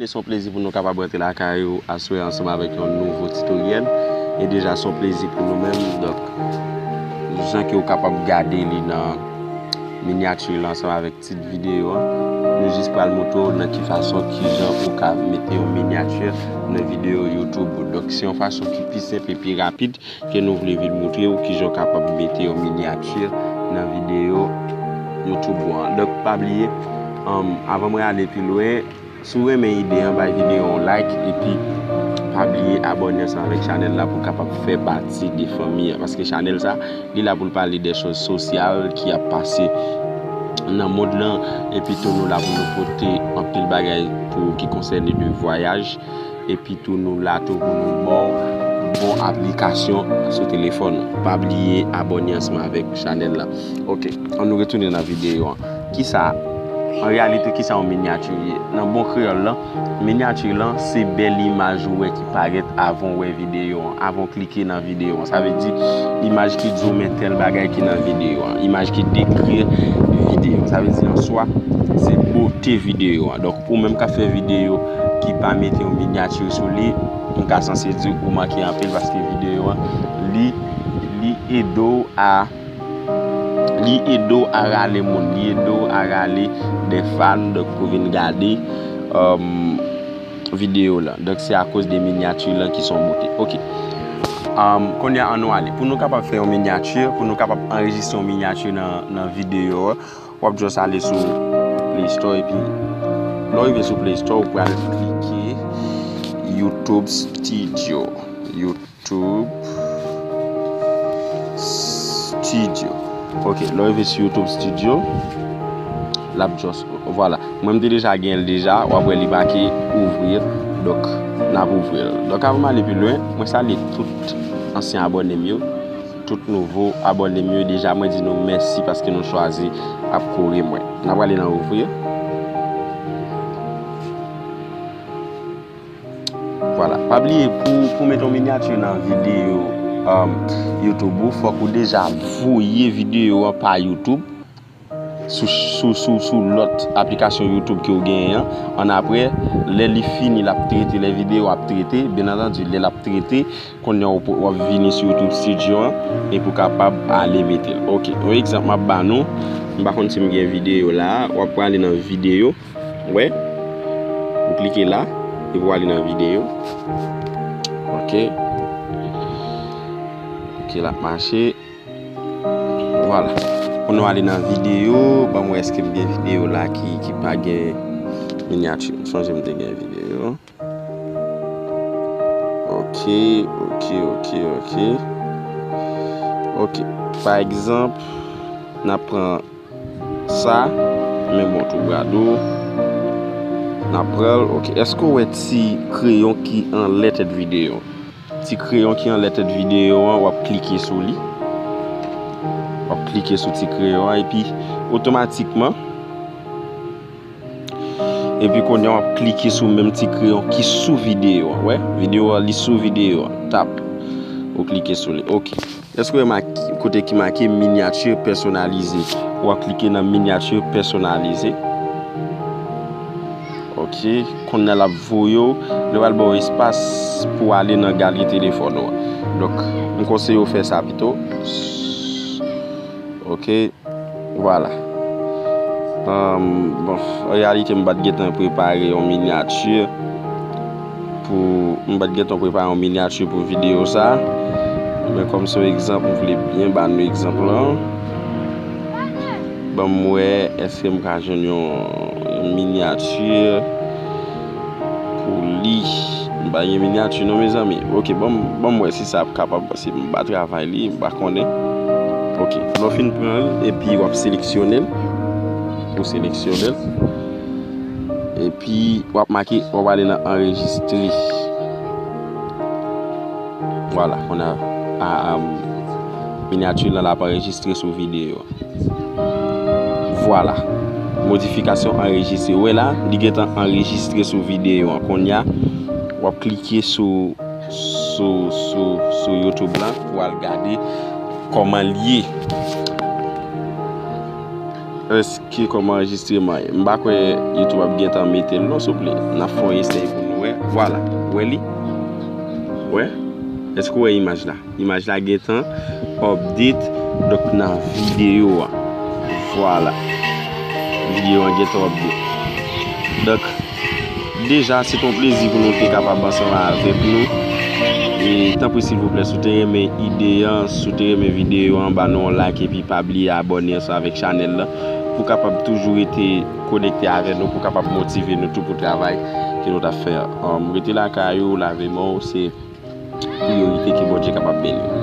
Se yon plezi pou nou kapab rantre lakay ou aswè ansanm avèk yon nouvo titoryèl E deja se yon plezi pou nou menm Donk, jan ke ou kapab gade li nan minyati lan ansanm avèk Tit videyo a, Nou jis pral montre w nan ki fason, kijan ou ka mete yon miniature nan videyo YouTube ou. Donk se yon fason ki pi senp e pi rapid ke nou vle vin montre ou kijan ou kapab mete yon miniature nan videyo YouTube ou an. Donk pa bliye, avan mwen ale pi lwen, Si w renmen ide an bay video yon like epi pa bliye abòne ansanm avèk chanèl la pou w kapab fè pati de fanmi an paske chanèl sa li la pou l pale de choz sosyal ki ap pase nan mond lan epi tou nou la pou nou pote anpil bagay pou ki konsène de vwayaj. Epi tou nou la tou pou nou baw bon aplikasyon sou telefòn ou. Pa bliye abòne ansanm avèk chanèl la. Ok an nou retounen nan videyo an. Kisa an reyalite kisa yon minyati ye? Nan bon kreyòl lan, minyati lan se bèl imaj ou wè ki parèt avan ou wè videyo an, avan ou klike nan videyo an. Sa vle di imaj ki di w men tèl bagay ki nan videyo an. Imaj ki dekri videyo an. Sa vle di an swa se bote videyo an. Donk ou menm kap fè videyo. ki pa mete yon miniature sou li m ka sanse di ou manke anpil paske videyo an li li ede w a li ede w a rale moun li ede w a rale de fan donk pou vin gade videyo lan donk se akoz de miniature lan ki son bote ok kounye a an nou ale pou nou kapab fè yon miniature pou nou kapab anrejistre yon miniature nan videyo an Wap just ale sou play store epi lè w rive sou play store ou pral klike YouTube studio YouTube studio ok lè w rive sou YouTube studio lap just vwala mwen m te deja gen l deja wap wè li make ouvrir dok nap ouvri l dok avan m ale pi lwen mwen salye tout ansyen abòne m yo. Tout nouvo abòne m yo deja mwen di nou mèsi paske nou chwazi ap kore mwen. N ap ale nan ouvrir. Vwala. Pa bliye pou w mete yon miniature nan videyo YouTube ou fòk ou deja voye videyo an pa YouTube. sou lòt aplikasyon youtube ke ou genyen an, an aprè lè li fini lap trete lè videyo ap trete, byen antandi lè lap trete kounye ou wap vini sou youtube studio an epi ou kapab ale metel ok yon egzanp map ba nou m pa konn sim gen videyo la a wap prale nan videyo wè ou klike la epi wale nan videyo ok ok lap mache. Vwala pou nou ale nan video banm wè eskem gen video la ki pa gen miniature m sonje m te gen video ok ok ok ok ok pa egzanp nap pran sa men bon tou gado nap pranl ok eske ou wè ti kreyon ki anlè tèt video. Ti kreyon ki anlè tèt videyo an wap klike sou li. Wap klike sou ti kreyon an epi otomatikman epi kounye an wap klike sou menm ti kreyon ki sou videyo an. Wè? Videyo an li sou videyo an. Tap. Ou klike sou li. Ok. Èske w remake kote ki make Miniature personnalisée? W ap klike nan Miniature personnalisée. Ok. Konnye a l ap voye w, li pral ba w espas pou w ale nan galri telefòn ou an. Donk, m konseye w fè sa pito. Ok. Vwala. Bon, an reyalite m pa t gentan prepare yon miniature. Pou m pat gentan prepare yon miniature pou video sa. Men kom se yon egzanp m vle byen ba nou egzanp lan. Ban m wè eske m ka jwenn yon miniature pou li. M pa gen miniature non mezanmi. Ok ban m wè si sa ap kapab pase m pa travay li m pa konnen. Ok lè w fin pran l epi wap seleksyonel. Ou seleksyonel. Epi wap make wap ale nan anrejistre. Vwala kounya minyati lan ap anrejistre sou videyo. Vwala. Modifikasyon anrejistre. Ou wè la li gentan anrejistre sou videyo an. Kounya wap klike sou YouTube lan pou al gade kòman li ye. Eske koman anjistreman ye. M pa kwè youtube ap gentan metel non souple. Nap fè yon esèy pou nou wè. Vwala. Ou wè li? Ou wè? Eske ou wè imaj la? Imaj la gentan update donk nan video a. Vwala. Video an gentan update. Donk. Deja se te yon plezi pou nou te kapab ansanm avèk nou e tanpri silvouplè si w te renmen ide an, si w te renmen videyo an ba nou yon like epi pa bliye abòne ansanm avèk chanèl la pou kapab toujou rete konekte avè nou pou kapab motive nou tou pou travay ke nou ta fè an. Rete lakay ou, lave men w se priyorite ke Bondye kapab beni w.